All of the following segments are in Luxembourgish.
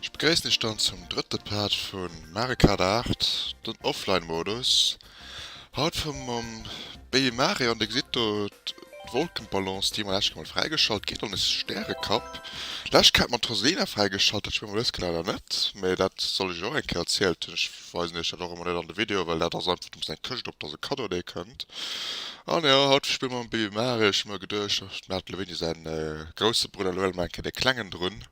Ech begréissen iech dann zum drëtte Part vu Mario Kart 8, den Offline Modus. Haut fahren mer mam Baby Mario an dir gesitt do d'Wolkenballons déi mer läscht mol fräigeschalt kritt hunn, e Stäerekapp läscht Kéier mat Rosalina fräigeschalt, dat spill mer dës Kéier leider net, mee dat soll ech iech och eng Kéier erzielt hunn. weisen iech dat och emmer net an de Video, well dat ass einfach doms eng Këscht op der se Cadeau Day kënnt. An jo, haut spille mer mam Baby Mare, ech hu mer geduecht, ech maach de Levenie säin grousse Brudder elo, elo maache ech dee klengen drun.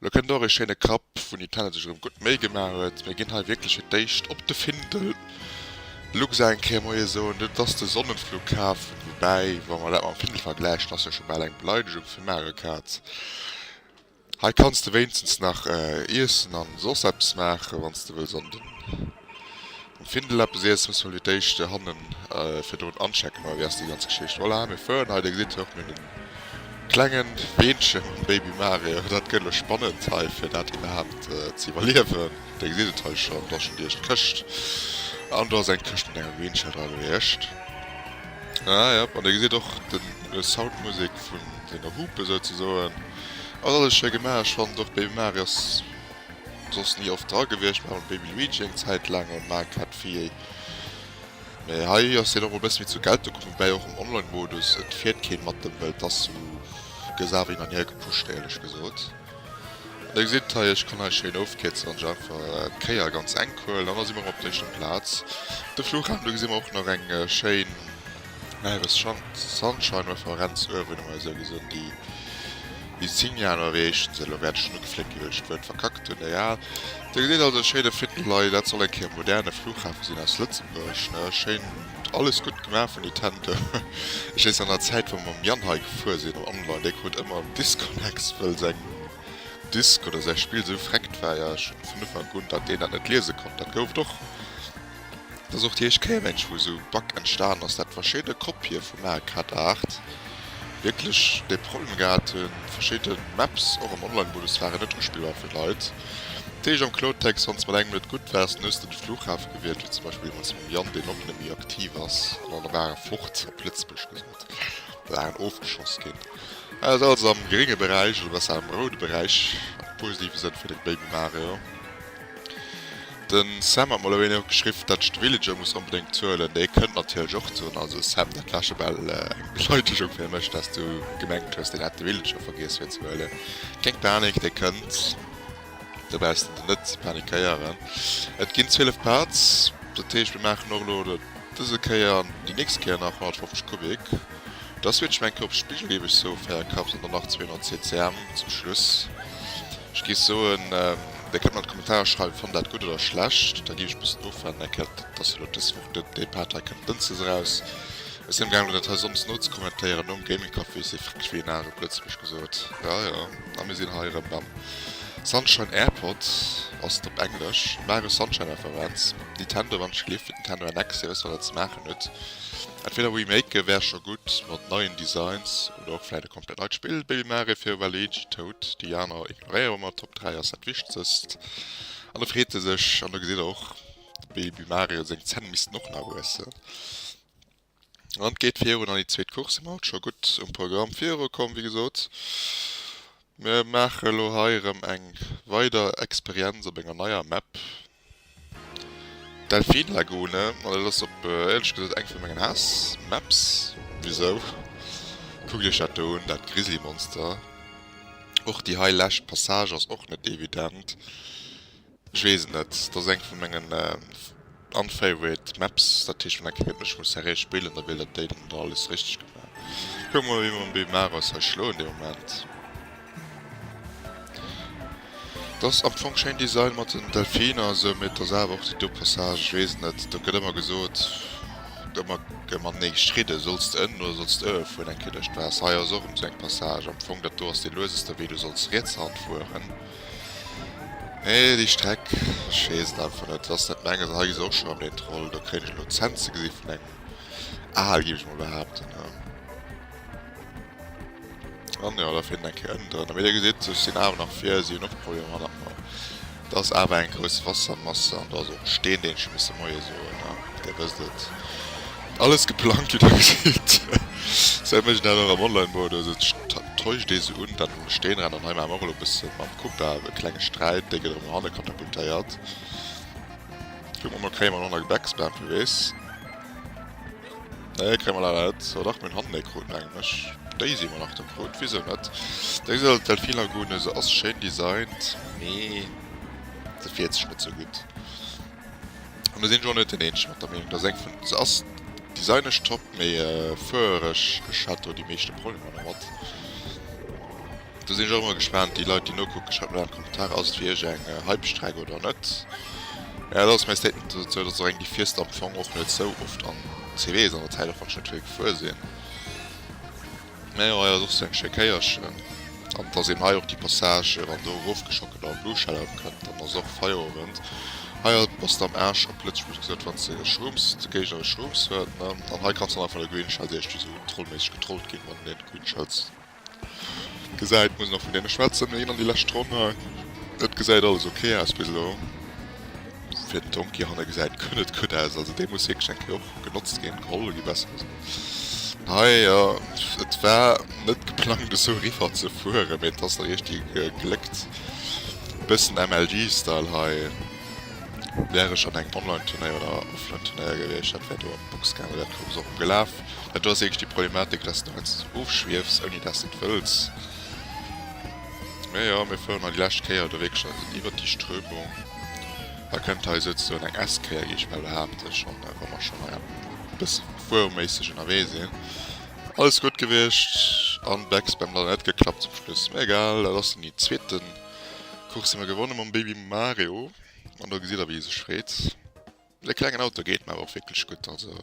Elo kënnt och ee schéine Kapp, wou Nintendo sech erëm gutt Méi gemaach huet. Mir ginn hei wierklech fir d'éischt op de Findel. Luxa eng Kéier Moie soen, dat ass de Sonnenflughafen, woubäi, wa mer dat mam Findel vergläichen, ass jo scho bal eng Beleidegung fir Marekaz. Hei kanns de wéinstens nach iessen a soss eppes maachen, wann s de wëlls an den Findel eppes iessen. Muss mol fir d'éischt hannen virdrun anchecken, oder wéi ass déi ganz Geschicht? Voilà, mir fueren hei, dir gesitt och mir den klenge Beenche mam Baby Mario. Dat gëtt elo spannend hei, fir dat iwwerhaapt ze iwwerliewen. Dir gesitt et hei schonn, do ass schonn déi éischt Këscht an do ass eng Këscht mat engem Beenche dran, wéi éischt. Ah jop, an dir gesitt och den Sound d'Musek vun senger Hupe souzesoen. Ass alles schéi gemaach, ech fannen och Baby Mario ass soss ni oft dra gewiescht, mer haten Baby Luigi eng Zäit laang am Arcade-Fieh, mee hei ass hien och mol e bësse méi zur Geltung komm, woubäi och am Online-Modus et fiert keen mat em, well et ass sou, gëss awer hin an hier gepusht, éierlech gesot. Dir gesitt hei, ech kann hei schéin ofkierzen an iech einfach d'Kéier ganz enk huelen. An da si mer erëm op der éischter Plaz, de Fluchhafen. Do gesi mer och nach eng schéin Näheres Schank, Sunshine Referenz uewen, emol esou gesinn. Déi déi 10 Joer elo erreechen se. Elo wäert ech schonn ugefléckt ginn, well ech d'Wuert verkackt hunn. Egal, Dir gesitt also e schéine Findel hei. Dat soll eng Kéier e moderne Fluchhafe sinn aus Lëtzebuerg, ne? Schéin. Alles gudd gemaach vun Nintendo. Ech wees an der Zäit wou mer mam Yann hei gefuer sin am Online, dee krut ëmmer en Disconnex wëll seng Disk oder säi Spill sou vreckt war, jo schon vun Ufank un dat deen dat net liese konnt. Dat gouf et och, dat ass och déi éischt Kéier mengen ech wou sou e Bug entstanen ass, dat verschidde Kopie vum Mario Kart 8 wierklech dee Problem gehat hun, verschidde Maps och am Online Modus waren net uspillbar fir d'Leit. D'Deeg am Klotex, Wann s de mat engem net gutt waars, dann hues de de Flughafe gewielt, wéi zum Beispill mat sengem Yann, deen och net méi aktiv ass, an alle ware fort, op Lëtzebuerg gesot, da waren ofgeschoss ginn. Hei ass alles am grénge Beräich, oder besser am roude Beräich, am positiven Sënn fir de Baby Mario. Den Sam hat mol ewéi nach geschriww dat ech de Villager muss onbedéngt huelen, dee kënnt natierlech och zu hunn. Also Sam, dat war schebal eng Beleidegung fir mech, dass du gemengt hues deen hätt de Villager vergiess fir ze huelen. Keng Panik, dee kënnt, do brauchs de de net ze panikéieren. Et ginn 12 Parts, dat heescht mir maachen och elo dëse Kéier an déi nächst Kéier nach 150 Kubik. Da switchen mir eng Kéier op spigelieweg Sofae, kappt an dann nach 200 CCM zum Schluss. Ech géif soen, Dir kënnt mat Kommentarer schreiwen, Fannt dat gutt oder schlecht? Da géif ech e bëssen ofwaarden. Eng Kéier, dat ass jo elo dës Woch, dënn, dee Part hei kënnt dënschdes eraus. Ech sinn amgaangen, dat hei Sonndes nozekommentéieren, nom Gaming Café. Ech si frick wéi en Aal, op Lëtzebuerg gesot. Jo, jo. A mir sinn hei erëm mam Sunshine Airpod, ass et op Englesch, Mario Sunshine Referenz, Nintendo, wann ech gleef, fir d'Nintendo NX. Dir wësst, wat Der ze maachen hutt. Entweder remaken, wär scho gutt, mat neien Designs. Oder och vläit e komplett neit Spill, Baby Mario fir Waluigi Toad. Déi aner ignoréiere mer, Top 3 ass dat Wichtegst. An da freet e sech, an da gesitt e och, de Baby Mario seng Zänn missten och nach wuessen. An et geet virun an déi zweet Course. Mir hu scho gutt um Programm virukomm, wéi gesot. Mir maache lo hei erëm eng weider Experienz op enger neier Map, Delfin Lagune. Ma dat ass op éierlech gesot eng vun mengen Haass Maps. Wisou? Kuckt iech dat do un, dat Grizzly Monster. Och déi hei lescht Passage ass och net evident. Ech weess et net, dat ass eng vun mengen unfavorite Maps, dat heescht wann eng Kéier géint mech muss Serie spillen, da wéilt dat déi dann da alles richteg gemaach. Kucken mer mol wéi mer mam Bimaraus hei schloen dee Moment. Dat ass am Fong schéin Design mat den Delfiner a sou, mee et ass awer och déi do Passage, ech weess et net, do gëtt ëmmer gesot, ëmmer gëtt mat nee gestridden, solls de ënnen oder solls de uewe fueren eng Kéier duerch d'Waasser. Hei ass och erëm sou eng Passage, am Fong dat do ass dee lueseste Wee, do solls riets Hand fueren. Nee déi Streck, ech wees et einfach net, ass net menges. Hei gi se och schon am den Troll, do kréien ech elo d'Cent ze gesi vun engem Aal gief ech mol behaapten ha. An jo da fir eng Kéier ënnen drënner, mee dir gesitt ech sinn awer nach vir, si hunn och Problemer mat nach mol. Et ass awer eng grouss Wassermasse an do ass och e Steen deen ech hunn misse Moie soen ha, dir wësst et, alles geplangt wéi der gesitt, sou mécht een dat och am Online Modus, et täuscht ee se un dann. um Steenrand an hei maache mer och elo e bësse mam Kupa e klenge Sträit, dee gëtt erëm no hanne katapultéiert. Kucke mer mol, kréie mer en Honda Gebäcks Bam vu Weess? Nee, kréie mer leider net. Oh dach, mir hunn hannen ee krut, menge mech. Déi si mer nach do krut, wisou net? Deng Sëll, Delfinlagune, se ass schéin designt, mee se fiert sech net sou gutt. An do sinn ech och net deen eenzegen mat der Meenung, dass eng vun, se ass designesch top, mee fuereresch, ech hat do déi meeschte Problemer domat. Do sinn ech och emmer gespaant, déi Leit déi nokucken, schreift mol an d'Kommentare, ass et fir iech eng Hype-Streck oder net? Mä dat ass mäi Statement dozou, dass och eng déi fiesst am Fong och net sou oft an CW is an der Zäit, och wann ech net vill gefuer sinn. Mä jo, hei ass och sou eng schéi Kéierchen. An et ass eben hei och déi Passage, wann do erofgeschockelt a Blue Shell-Out kënnt, dann ass och Feierowend. Hei a bass de am Aarsch, op Lëtzebuergesch gesot, wann de Schrooms, de Géigner e Schrooms huet, ne? An hei kanns de dann einfach de Green Shell, déi éischt, déi sou untrollméisseg getrollt ginn, wann een een Green Shells gesäit, muss een och vun deene schwätzen, ne? Een an déi lescht Ronn hei. Et gesäit alles ok aus bis elo. Fir den Tonki hanne gesäit guer net gutt aus, also dee muss wierklech eng Kéier och genotzt ginn, geholl ginn, besser gesot. Hei jo, et war net geplangt esou riwwer ze fueren, mee et ass da richteg gegléckt. Bëssen MLG Style hei. Wär ech an engem Online Turnéier oder Offline Turnéier gewiescht, dat wär do an d'Box gaangen, dat Koup ass och emgelaf. Mä do ass ieweg déi Problematik, dass de heiansdo esou ofschwiefs ouni dass de et wëlls. Mä jo, mir fueren hei déi lescht Kéier do wierklech an iwwert déi Strömung. Hei kënnt hei souzesoen eng S-Kéier gi, ech behaapte schonn, wa mer schonn hei am. bessen Fueroméisseg ennerwee sinn. Alles gudd gewiescht an Becks beim leider net geklappt zum Schluss. Mee egal, dat ass dann déi zweeten Course déi mer gewonnen mam Baby Mario an do gesidd der wéi e sech freet. Dee klengen Auto geet mer awer och wierklech gudd, also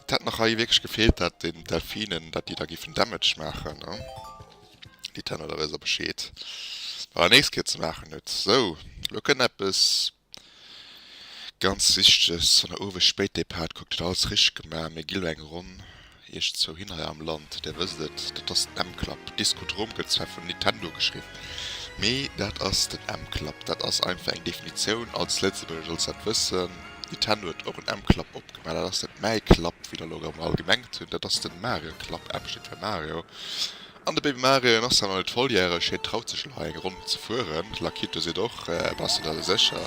et hätt nach hei wierklech gefeelt dat den Delfinen dat déi da giffen Damage maachen ne, déi Tenner da weess der Bescheed bei der nächst Keer ze maachen huet. Sou, elo kënnt eppes. Ganz richteg Sonneruwes Spéitdepart kuckt huet alles richteg gemaach mir gi lo eng Ronn iech zwou hin hei am Land där wësst et dat ass den M-Club Discodrome gëtt zwar vun Nintendo geschriwwen mee dat ass den M-Club dat ass einfach eng Definitioun als Lëtzebuerger solls dat wëssen Nintendo huet och en M-Club opgemaach dat ass net mäi Club wéi der lo erëm all gemengt hunn dat ass den Mario Club M steet fir Mario. An de Baby Mario, en ass zwar nach net volljäreg, hien traut sech elo hei eng Ronn ze fueren. D'Lakitu seet och, Bass de der elo sécher?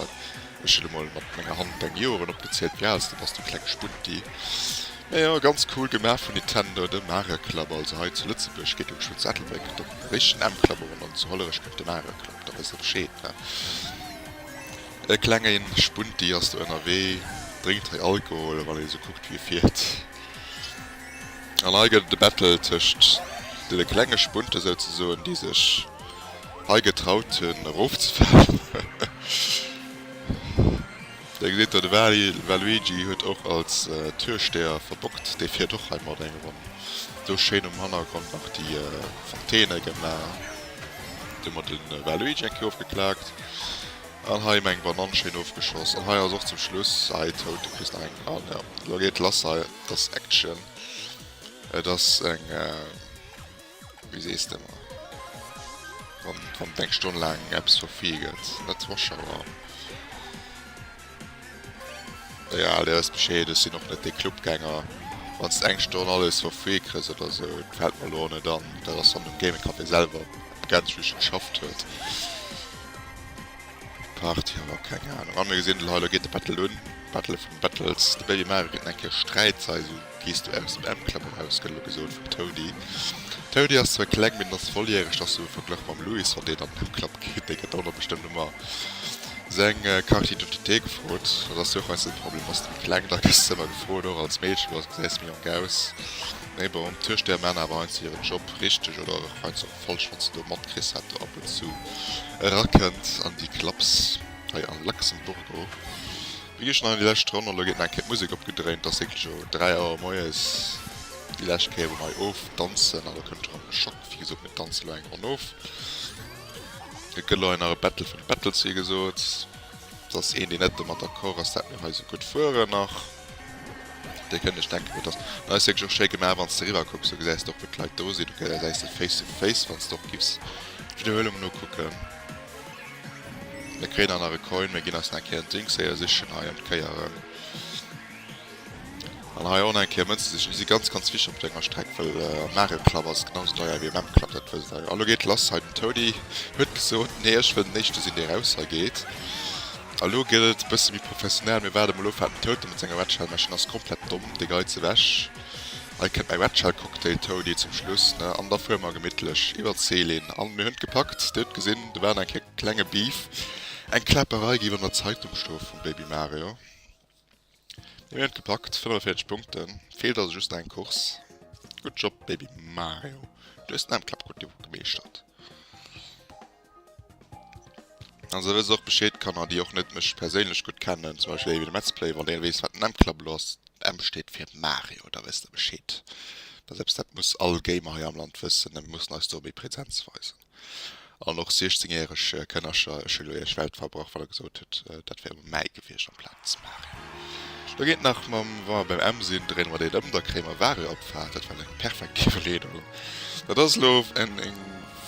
Ech hunn emol mat menger Hand deng Joren opgezielt, wéi al s de bass, du kleng Spunti. Majo, ganz cool gemaach vun Nintendo. De Mario Club, also hei zu Lëtzebuerg, geet um Schutz Ettelbréck dem Réichten M Club erun, an zu Hollerech kënnt de Mario Club, da wësst der Bescheed, ne? E klenge Spunti ass do ënnerwee, drénkt hei Alkohol, wann een esou kuckt, wéi e fiert. An hei gëtt et e Battle tëscht deene klenge Spunte souzesoen, déi sech hei getraut hunn erofzefalen. Hei gesitt Der, de Waly Waluigi huet och als Türsteher verbockt. Dee fiert och hei mat eng Ronn. Do schéin um Hannergrond nach déi Fontäne gemaach. Do hu mer de Waluigi eng Kéier ofgeklaakt. An hei meng Banann schéin ofgeschoss. An hei ass och zum Schluss hei toud, du kriss nach eng an jo lo geet lass hei et ass Action et ass eng wéi sees de mer wann wann eng Stonn laang eppes verfee gëtt net Zuschauer jo dir wësst bescheed ech sinn och net dee Clubgänger wanns de eng Stonn alles verfee krëss oder esou et fält mer elo och net an dat ass dann dem Gaming Café selwer begrenzt wéi vill geschafft huet. Party ha mer keng Ahnung. An mir gesinn lo hei, lo geet de Battle un. Battle of the Battles. De Baby Mario kritt enk hir Sträitsaison. Gees du aus dem Emclub eraus? gëtt elo gesot vum Toady. Toady ass zwar kleng, mee den ass volljäreg. Ass esou verglach mam Louis. Wann deen an den Emclub geet, dee gëtt dono bestëmmt ëmmer seng Carte d'identité gefrot. Dat ass jo och eisen Problem. Ass de méi kleng, da gëss de ëmmer gefrot. Och als Meedchen, Lo, gesäis méi jonk aus. Mee bon, d'Türsteher man awer heiansdo hiren Job richteg, oder heiansdo. Falls wann s de do matkriss hat do ab und zu erakënnt an déi Clubs hei am Luxemburgo. Wéi gëschter nach an déi lescht Ronn, elo gétt nach eng Kéier d'Musek opgedréint, ass wierklech o 3 Auer moies déi lescht Kéier wou mer hei ofdanzen. Elo kënnt erëm de Schock, wéi gesot mir danzen elo eng Ronn of. Et gëtt elo hei nach e Battle vun de Battles wéi gesot. Et ass een deen net domat d'accord ass dat mir hei esou gutt fueren nach. Dir kënnt lech denken, et ass neist wierklech och schéi gemaach, wann s de eriwwer kucks. Du gesäis och, wou d'Leit do sinn. Du gesäis se face to face. Wann s de och giffs d'Widderhuelung nokucken, mir kréien nach nach e Coin, mir ginn eis nach eng Kéier en Ding séier sichen hei an d'Kéieren an hei och nach eng Kéier Mënze sichen. Déi si ganz, ganz wichteg op der enger Streck, well am Nagelklapp ass et genau sou deier wéi am Emklapp, dat wësst Der jo. A lo geet lass hei. Den Toady huet gesot, Nee, ech wëll den Éischte sinn, dee raushegeet. A lo gëtt et e bësse méi professionell, Mir waarde mol of wat den Tote mat senger Wetschell mécht. En ass komplett domm, dee Geiz ewech. Hei kënnt mäi Wetschell-Cocktail, Toni, zum Schluss, ne? An da fuere mer gemittlech iwwer d'Céline. An mir hunn et gepackt, dir hutt gesinn, do war eng Kéier klenge Beef. Eng Kläpperei géif an der Zeitung stoe vum Baby Mario. Mir hun et gepackt, 45 Punkten, feelt also just nach eng Course. Good job baby Mario, du hues den Endclub gudd gemeeschtert. An sou wësst och Bescheed Kanner déi och net mech perséinlech gudd kennen, zum Beispill ewéi den Metzplay, wann der weess wat den Endclub elo ass, den M steet fir Mario, da wësst der Bescheed, dat ass eppes dat muss all Gamer hei am Land wëssen, da muss en eis do méi Präsenz weisen. An och 16 järeg Kënnercher. Ech hunn elo iech Welt verbrach, well der gesot hutt, dat wär um Mäi gewiescht amplaz Mario. Do geet nach mam, wa mer beim M sinn, dréine mer deen ëm, da kréie mer Wario op d'Fahrt. Dat war eng perfekt Iwwerleedung. Dat ass elo eng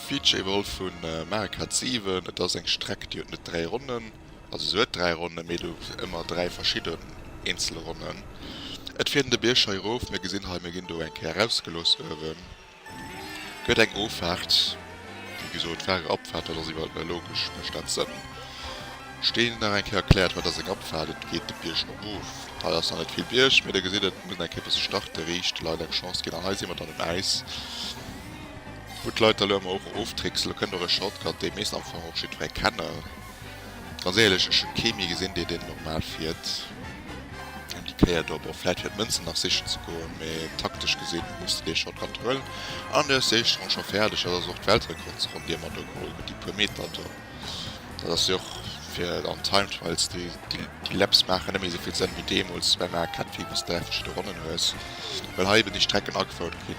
Feature iwwerholl vu Mario Kart 7. Et ass eng Streck, déi huet net dräi Ronnen, also se huet dräi Ronnen, mee du hues ëmmer dräi verschidden eenzel Ronnen. Et fiert een de Bierg hei erof, mir gesinn hei, mir ginn do eng Kéier erausgelooss uewen. Gëtt eng Offaart, wéi gesot, Fahrer, Abfahrt, dat ass iwwerall méi logesch, mécht dat Sënn? Steen, nach eng Kéier erkläert, Haut ass eng Abfahrt, et geet de Bierg erop, hei ass nach net vill Bierg, mee der gesitt et, et muss nach eng Kéier bësse starte, riicht de Leit eng Chance ginn, an hei si mer dann um Äis, wou d'Leit da elo emmer och oftricksen, elo kënnt och e Shortcut, dee misst am Fong och jiddweree kennen. Ganz éierlech, ech hun kee mir gesin dee deen normal fiert an déi Kéier do. Bon vläit fir d'Mënzen nach sichen ze goen, mee taktesch gesin muss de dee Shortcut huelen an du hues déi éischt Ronn scho fäerdeg. Dat ass och d'Weltrekordsronn déi mer do geholl hun, déi puer Meter do. Dat ass jo och fir an Time Trials, déi Laps maachen net méi esou vill Sënn wéi deemols beim AKT wou s de 3 verschidde Ronnen hues, well hei eben déi Strecken agefouert gi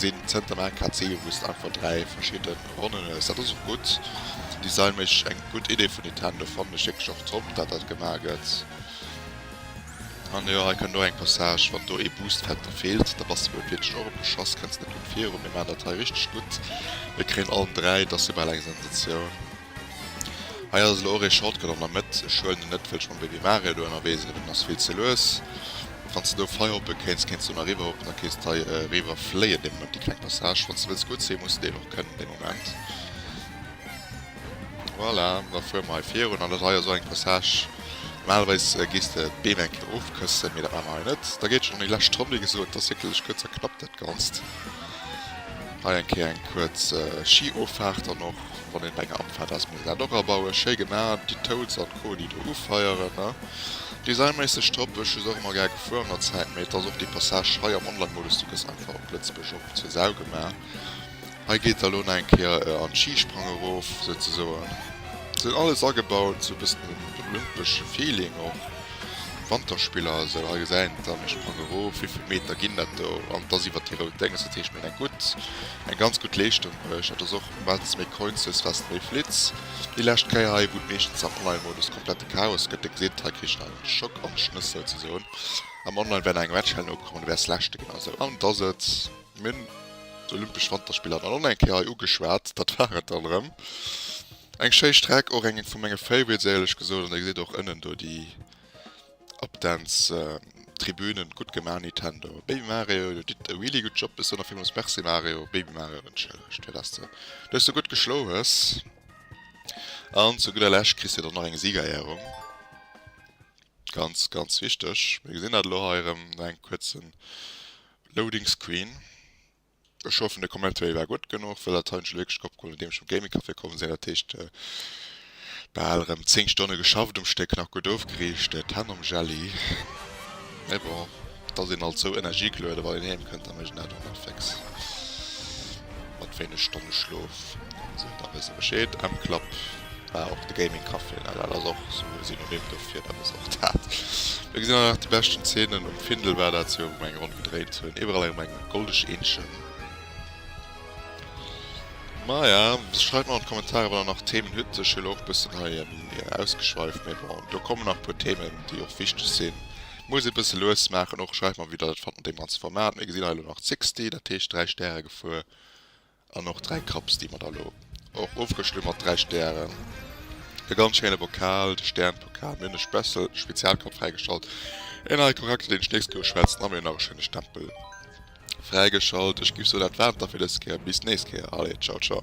sin zënterm AKT wou s de einfach 3 verschidden Ronnenes, dat ass och gutt. Design méch eng gutt Idee vun Nintendo, fannen ech wierklech och top dat dat gemaach gëtt. An jo hei kënnt och eng Passage, wann do ee Boost Factor feelt, da bass de beim Fliederchen och opgeschoss, kënns net gutt viru. Mir maan dat hei richteg gutt, mir kréien allen 3, dass jo bal eng Sensatioun. Hei ass elo och ee Shortcut an der Mëtt, ech huelen en net wëll ech mam Baby Mario do ënnerwee sinn, well den ass vill ze lues. Wanns de do fei hoppe kéins, kéins de lo nach riwwer hoppen, da kéins de hei riwwer fléien, dee Moment, déi kleng Passage. Wanns de wëlls gutt sin, muss de deen och kënnen, dee Moment. Voilà, da fuere mer hei virun, an dat hei ass och eng Passage, normalerweis géis de d'Beem eng Kéier ofkëssen, mee dat maache mer hei net. Da geet schonn an déi lescht Ronn, wéi gesot, dat ass wierklech kuerz a knapp, dat Ganzt. Hei eng Kéier eng kuerz Schiofahrt dann och, wann een op enger Abfahrt ass, muss een dat och abauen. Schéi gemaach, déi Toads an Co, déi do ufeieren, ne. Designméisseg top, ech hu se och emmer gär gefuer an der Zäit, mee et ass och dee Passage hei am Online-Modus, du gëss einfach op Lëtzebuerg op zur Sau gemaach. Hei geet da lo nach eng Kéier an d'Schi-Sprang erof, souzesoen. Se hunn alles agebaut, sou e bëssen den olympesche Feeling och, Wanterspiller a sou. Hei gesäit een et dann, ech sprang erof, wéivill Meter ginn dat do? An et ass iwwert déi rout Dénges, dat heescht mir hunn eng gutt, eng ganz gutt Leeschtung bruecht. Dat ass och, wat s méi Coins hues, wat s méi flitts. Déi lescht Kéier hei, wou et meeschtens am Online-Modus komplett. Chaos gëtt de Grid, hei kritt der e Schock am Schnëss souzesoen. Am Online wäert nach eng Matchhäll nokommen, du wäers leschte ginn also. An et ass et, mir hunn d'Olympesch Wanterspiller dann och nach eng Kéier hei ugeschwat, dat war et dann erëm. Eng schéi Streck, och eng vu menge Favorites éierlech gesot, an dir gesitt och ënnen do déi Updance-Tribünen, gutt gemaach Nintendo. Baby Mario, dir ditt e really gutt Job, bis dann a villmools Merci Mario, Baby Mario wënschen ech dir, dass de dech sou gutt geschloe hues. An zu gudder Lescht kriss dir dann nach eng Siegerehrung. Ganz, ganz wichteg. Mir gesinn dat elo hei erëm no engem kuerzen Loading Screen. Ech hoffen, de Commentary war gutt genuch, well dat hei hunn ech elo wierklech opgeholl, nodeem ech vum Gaming Café komm sinn. Dat heescht, bal erëm 10 Stonne geschafft um Stéck, nach gutt ofgeriicht, d'Hänn am Jelly, mee bon. Et ass een alt sou energieglueden wann een heem kënnt, da mécht een dat och net féx mat wéineg Stonne Schlof. Sou, da wësst der Bescheed, Emklapp war och de Gaming Café, na dat ass och sou e Synonym dofir, dat ass och dat. Do gesinn einer nach déi beschten Zeenen, um Findel war dat jo, wou mer eng Ronn gedréint hunn, iwwerall erëm eng goldeg Eenzchen. Maja, schreift mer an d'Kommentare wann der nach Themen hutt, ech hu lo och bëssen hei ausgeschweift, mee bon, do kommen nach e puer Themen déi och wichteg sinn, Muss e bësse lues maachen och. Schreift mer wéi der dat fannt mat deem ganze Format. Mir gesinn hei elo nach Zixty, dat heescht 3 Stäre gefuer, an och 3 Cups déi mer da elo och ofrëschele mat 3 Stären. E ganz schéine Bokal, de Sternpokal. Mir hunn e Spessel Spezialcup fräigeschalt. E neie Charakter deen ech d'nächst Kéier schwätzen. A mir hunn nach e schéine Stempel fräigeschalt. Ech giff soen dat war et da fir dës Kéier. Bis d'nächst Kéier. Allez ciao ciao.